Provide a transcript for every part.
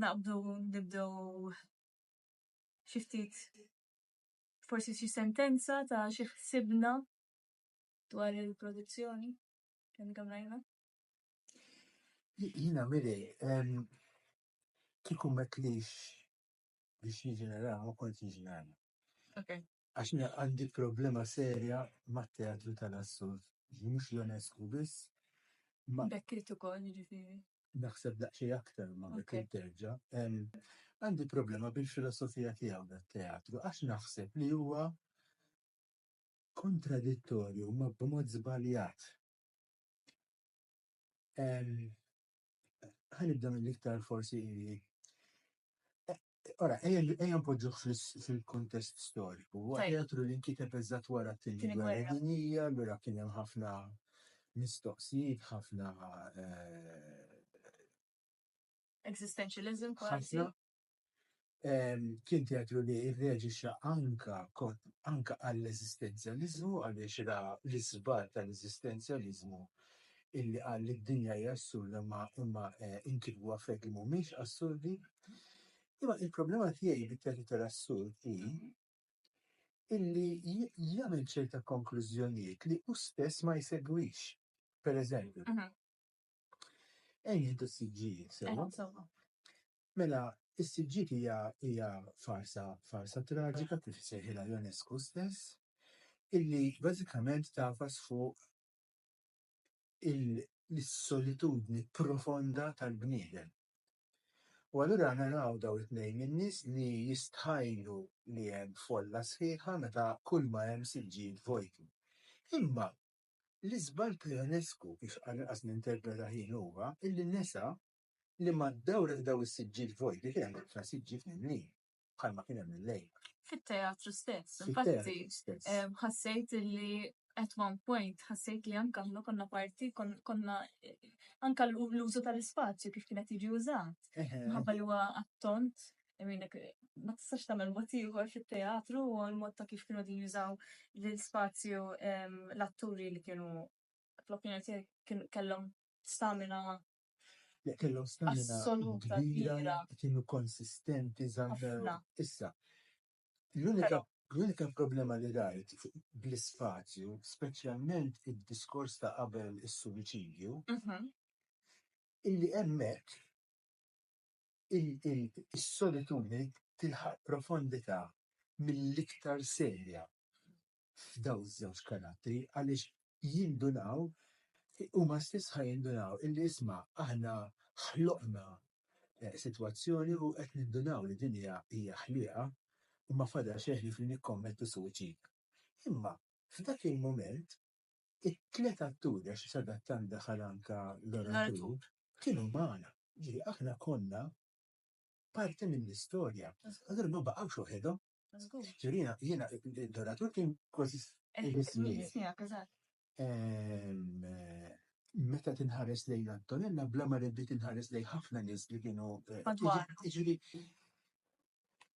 naqbdu nibdew xi ftit forsi xi sentenza ta' xi ħsibna dwar il-produzzjoni kemm kemm rajna. Jina miri, kieku metlix biex jiġi naraw, ma kont jiġi naraw. Għax jiena għandi problema serja mat-teatru tal-assurd, li mhux Ionescu biss, imma. Beckett ukoll, jiġifieri. Naħseb daqsxejn aktar ma' Beckett terġa'. Għandi problema bil-filosofija tiegħu tat-teatru, għax naħseb li huwa kontradittorju, imma b'mod żbaljat. Ħa nibda mill-iktar forsi. Ora, ejja npoġġuh fil-kuntest storiku. Huwa teatru li nkiteb eżatt wara t-tieni gwerra dinjija, allura kien hemm ħafna mistoqsijiet, ħafna eh, Existentialism kważi. Kien teatru li irreġixa anka anka għall-eżistenzjalizmu għaliex ra l-iżbar tal-eżistenzjalizmu illi qal li d-dinja hi assurda imma imma inkitbu affarijiet li mhumiex assurdi. Imma il-problema tiegħi bi teatru tal-assurd hi illi jagħmel ċerta konklużjonijiet li hu stess ma jsegwix. Per eżempju, ejn nieħdu s-siġġijiet sewwa. Mela, is-siġġijiet hija hija farsa farsa traġika kif isejħilha Ionesco stess, illi bażikament tagħfas fuq il-solitudni profonda tal-bniedem. U allura naraw daw it-tnejn min-nies li jistħajlu li hemm folla sħiħa meta kull ma hemm siġġijiet vojti. Imma l-iżball ta' Ionescu, kif għall-inqas ninterpreta jien huwa, illi nesa li mad-dawra ta' daw is-siġġijiet vojti kien hemm ħafna siġġijiet mimlijin. bħalma kien hemm illejla. Fit-teatru stess, infatti, ħassejt li at one point ħassejt li anka ħna konna parti, konna anka l-użu tal-ispazju kif kienet jiġi użat. Mħabba li huwa attont, ma tistax tagħmel mod ieħor fit-teatru u l-mod ta' kif kienu din jużaw l-ispazju l-atturi li kienu fl-opinjoni tiegħi kellhom stamina li kellhom stamina kbira, kienu konsistenti, żammew. Issa, l-unika problema li rajt bl-ispazju, speċjalment id-diskors ta' qabel is-suwiċidju, illi hemmhekk is-solitudni tilħaq profondità mill-iktar serja. f'dawn iż-żewġ karattri għaliex jindunaw, huma stess ħa jindunaw illi isma' aħna ħloqna sitwazzjoni u qed nindunaw li din hija hija ħliqa u ma fadal xejn ħlief li nikkommettu suwiċid. Imma f'dak il-mument it-tliet atturi, għax sadattant daħal anke l-oratur, kienu magħna. Jiġifieri aħna konna parti mill-istorja. Allura ma baqgħux waħedhom. Ġurina, jiena id-doratur kien kważi Meta tinħares lejn Antonella, bla ma riddi tinħares lejn ħafna nies li kienu. Ġuri,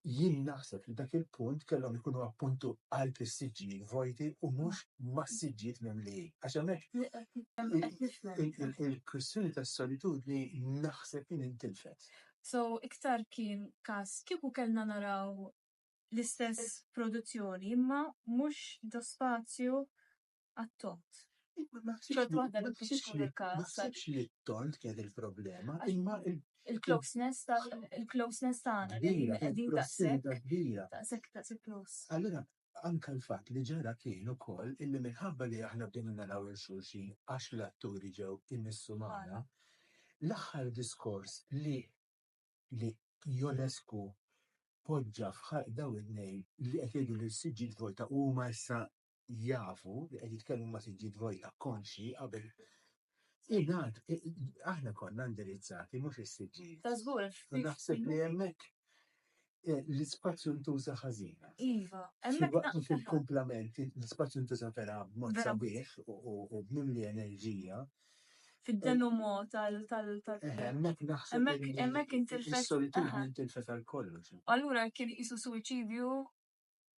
jien naħseb li dak il-punt kellhom ikunu appuntu għal pissiġġijiet vojti u mhux massiġġijiet mimli. Għax hemmhekk il-kwistjoni tas-solitudni naħseb li nintilfet. So iktar kien każ kieku kellna naraw l-istess produzzjoni imma mhux ta' spazju għat-tond. Ma naħsibx li t-tond kienet il-problema imma l-. Il-closeness tal-, il-closeness tagħna. Kbira, kbira, prossmità kbira. Daqshekk, daqshekk close. Allura Anke l-fatt li ġara kien ukoll illi minħabba li aħna bdejna naraw 'il xulxin għax l-atturi ġew imissu magħna, l-aħħar diskors li li Ionescu poġġa f'ħalq dawn it-tnejn li qed jgħidu lil siġġijiet vojta u huma issa jafu li qed jitkellmu ma' siġġijiet vojta konxji qabel Ingħad, aħna konna indirizzati mhux is-siġġijiet. Ta' żgur. U naħseb li hemmhekk eh, l-ispazju ntuża ħażina. Iva, hemmhekk waqt fil-kumplament l-ispazju ntuża vera b'mod sabiħ u b'mimli enerġija. Fid-denu eh, mod tal tal tal. Eh, hemmhekk naħseb hemmhekk intilfet. Is-solitudni intilfet għal kollox. Allura kien qisu suwiċidju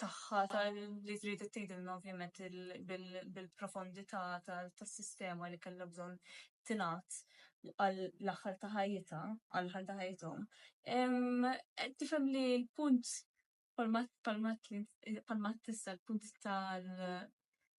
tagħha li trid tgħidilna ovvjament bil-profondità tas-sistema li kellha bżonn tingħad għall-aħħar ta' ħajjitha, għall-aħħar ta' ħajjithom. Tifhem li l-punt palmat palmat tista' l-punt tal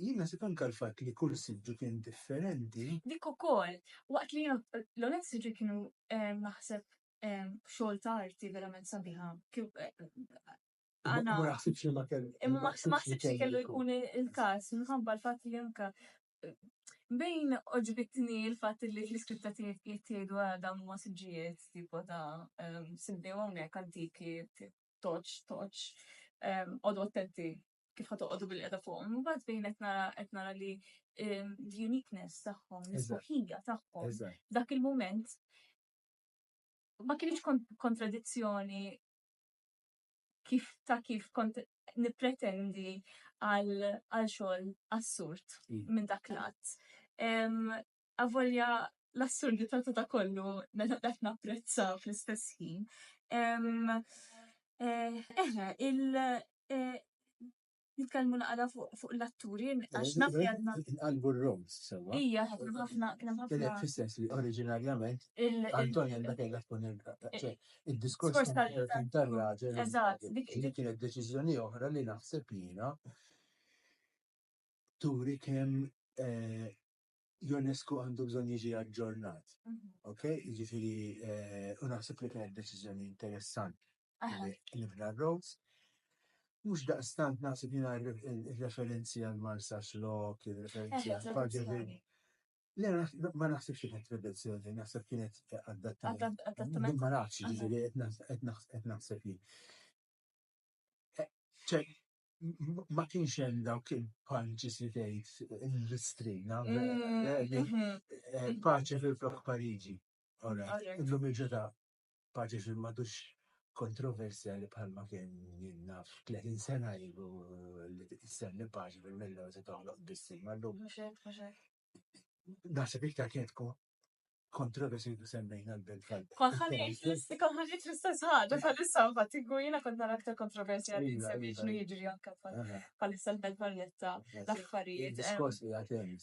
Jien nasit anke l-fatt li kull siġġu kien differenti. Dik ukoll, waqt li jiena l-għonet siġġu kienu naħseb xogħol ta' arti verament sabiħa. Imma ma ħsibtx li ma kellu. Imma ma ħsibtx li kellu jkun il-każ minħabba l-fatt li anke bejn għoġbitni l-fatt li fl-iskritta tiegħek qed jgħidu dawn huma siġġijiet tipo ta' simdejhom hawnhekk antiki toċ, toċ, għodu attenti kif ħat toqgħodu bil-qeda fuq. Mbagħad fejn qed nara qed nara li l-uniqueness tagħhom, l-isbuħija tagħhom, dak il-mument ma kienx kontradizzjoni kif ta' kif kont nipretendi għal xogħol assurd minn dak l-att. Avolja l-assurdità ta' da kollu meta qed napprezzaw fl-istess ħin. Eħe, il- nitkellmu naqra fuq l-atturi, għax naf li għadna. Inqalbu r-roles, sewwa. Ija, kien hemm ħafna, kien hemm ħafna. Kienet fis-sens li oriġinarjament Antonio għandha kellha tkun il-kapaċi. Id-diskors tar-raġel. Eżatt. Dik kienet deċiżjoni oħra li naħseb jiena turi kemm Ionesco għandu bżonn jiġi aġġornat, ok, jiġifieri u naħseb li kienet deċiżjoni interessanti li bna r-roads. Mhux daqstant naħseb jiena r-referenzi għal Marsax Lock, ir-referenzi għal Pagevin. Le, ma naħsibx li kienet riduzzjoni, naħseb kienet adattament. Ma nafx, jiġifieri qed naħseb jien. ma kienx hemm dawk il-punches li tgħid l-istrina, paċi fil-flok Pariġi. Illum il-ġodha paċi fil madux kontroversjali bħalma kien naf 30 sena ilu li tistenni paċi fil-Mellowes u toħloq biss il-mallum. Naħseb iktar kienet kontroversi li semmejna l-belt tal Kont ħanejt l-istess ħaġa bħalissa fatt jiena kont nara aktar kontroversja li iva, semmi iva. x'nu jiġri anke bħalissa l-belt Valletta l-affarijiet. Diskors li għatem.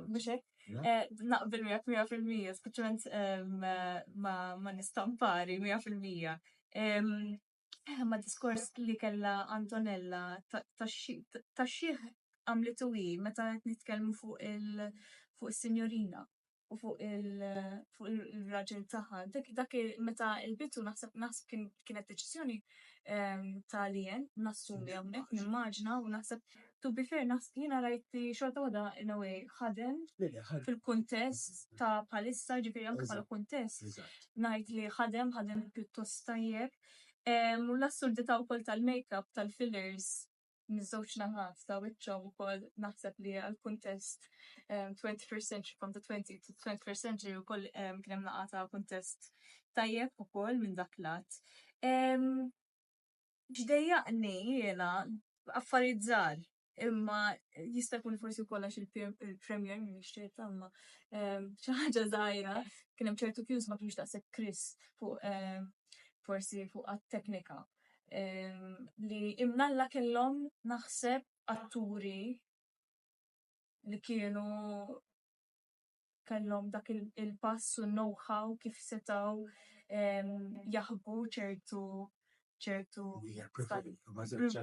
Mhux hekk? Eh, naqbel miegħek 100% speċjalment ma nistampari 100%. Eh, ma diskors li kella Antonella ta' xieħ għamlitu hi meta qed nitkellmu fuq il fuq is-sinjorina u fuq il-raġel tagħha. Dak dak meta il-bitu naħseb naħseb kienet deċiżjoni ehm, ta' lien nassumi hawnhekk nimmaġna u naħseb To be fair, naħseb jiena rajt li xorta waħda in a way ħadem fil-kuntest ta' bħalissa, jiġifieri anke bħala kuntest ngħid li ħadem, ħadem pjuttost tajjeb. U l-assurdità wkoll tal-makeup tal-fillers miż-żewġ naħat ta' wiċċhom ukoll naħseb li għall-kuntest 21st century from the 20 to 21st century wkoll kien hemm naqa' ta' kuntest tajjeb ukoll minn dak l-att. X'dejjaqni jiena affarijiet żgħar imma jista' jkun forsi wkoll għax il-Premier minn nixtieq imma xi ħaġa żgħira kien hemm ċertu cues ma kienx daqshekk crisp fuq forsi fuq għat-teknika li imnalla kellhom naħseb atturi li kienu kellhom dak il-pass u l-know-how kif setgħu jaħbu ċertu ċertu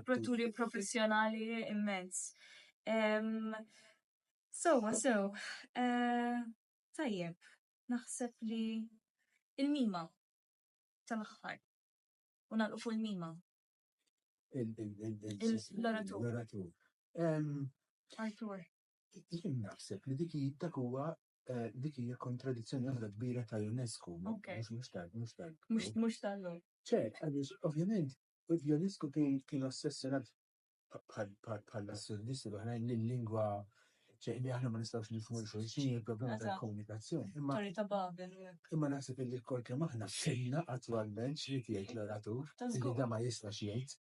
protturi professjonali immens. Sewwa sew, tajjeb, naħseb li il-mima tal-aħħar u nagħlqu fuq il-mima. Il-l-oratur. L-oratur. Artur. Jien naħseb li dik hi- dak huwa eh, dik hija kontradizzjoni waħda kbira tal-UNESCO, mhux Ok. mhux- mhux tal- mhux tal- Mhux mhux tal-lum. ċert, għaliex ovvjament l-UNESCO kien kien ossessjonat bħal- bħal- bħall-assurdisti l-oħrajn li l-lingwa ċe- li aħna ma nistgħux nifhmu xulxin il-problema Eżatt. tal-komunikazzjoni. Imma Torri ta' Babel. imma naħseb li kol kemm aħna xejna attwalment xrid jgħid l-oratur Ta' li żgur. da ma jistax jgħid.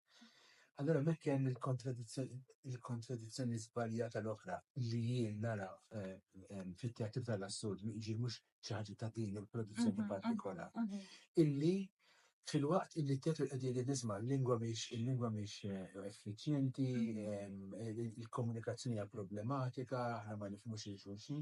Allura hemmhekk hemm il-kontradizzjoni żbaljata l-oħra li jien nara fit-teatru tal-assurd jiġi mhux xi ħaġa ta' din il-produzzjoni partikola. Illi fil-waqt illi t-teatru qed jgħidli nisma' l-lingwa mhix il-lingwa mhix effiċjenti, il-komunikazzjoni hija problematika, aħna ma nifhmux lil xulxin.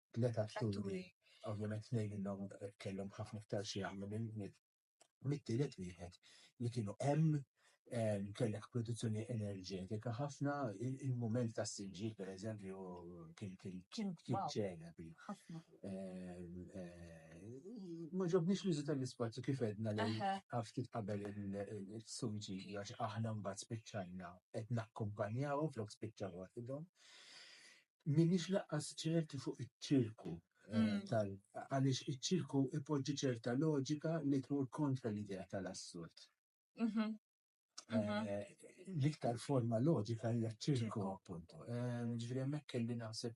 Tliet atturi, ovvjament tnejn minnhom kellhom ħafna iktar x'jagħmlu mit-tielet wieħed, li kienu hemm, kellek produzzjoni enerġetika ħafna, il-mument tas-sinġiel pereżempju kien ċelebri. Ma għoġobnix l-użu tal-ispazju kif għedna ftit qabel il-sinġiel għax aħna mbagħad spiċċajna qed nakkumpanjahom flok spiċċaw waħidhom. M'iniex lanqas ċerti fuq iċ-ċirku tal-, għaliex iċ-ċirku jpoġġi ċerta loġika li tmur kontra l-idea tal-assurd. L-iktar forma loġika hija ċ-ċirku, appuntu. Jiġifieri hemmhekk kelli naħseb,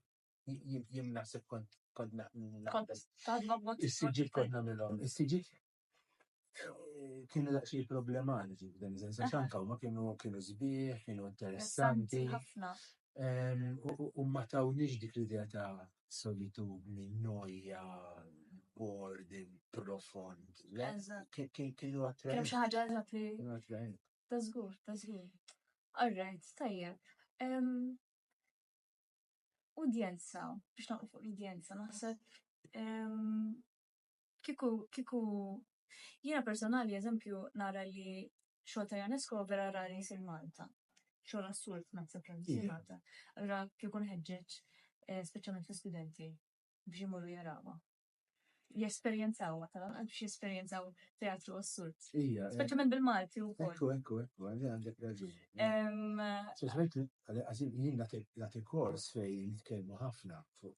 jien naħseb kont, kont naqbes. Kont tgħid ma b'mod. Is-siġġiet kont nagħmilhom, is-siġġiet Kienu daqsxejn problematiċi f'dan is-sens għax anke huma kienu kienu sbieħ, kienu interessanti, u ma tawniex dik l-idea ta' solitudni, nojja, boredom profond, le, kienu attraenti. Ta' żgur, ta' żgur. Alright, tajjeb. Udjenza, biex noqgħod fuq l-udjenza, naħseb Kieku, kieku, jiena personali eżempju nara li xogħol ta' Ionesco huwa vera rari jsir Malta. Xogħol assurd naħseb kemm isir Malta. Allura kieku nħeġġeġ speċjalment l-istudenti biex imorru jarawha. Jesperjenzawha tal-anqas biex jesperjenzaw teatru assurd. Speċjalment bil-Malti wkoll. Ekku, ekku, ekku, għandi għandek raġun. Speċjalment għalli għażin jien nagħti kors fejn nitkellmu ħafna fuq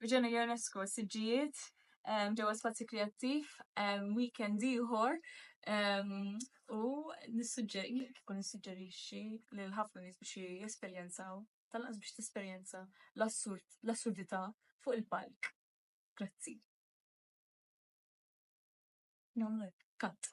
Reġgħina Ionesco siġġijiet ġewwa Spazju Kreattiv weekend ieħor u nissuġġeri kif nissuġġerixxi lil ħafna nies biex jesperjenzaw tal-anqas biex tesperjenza l-assurd l-assurdità fuq il-palk. Grazzi. Nagħmlu hekk, cut.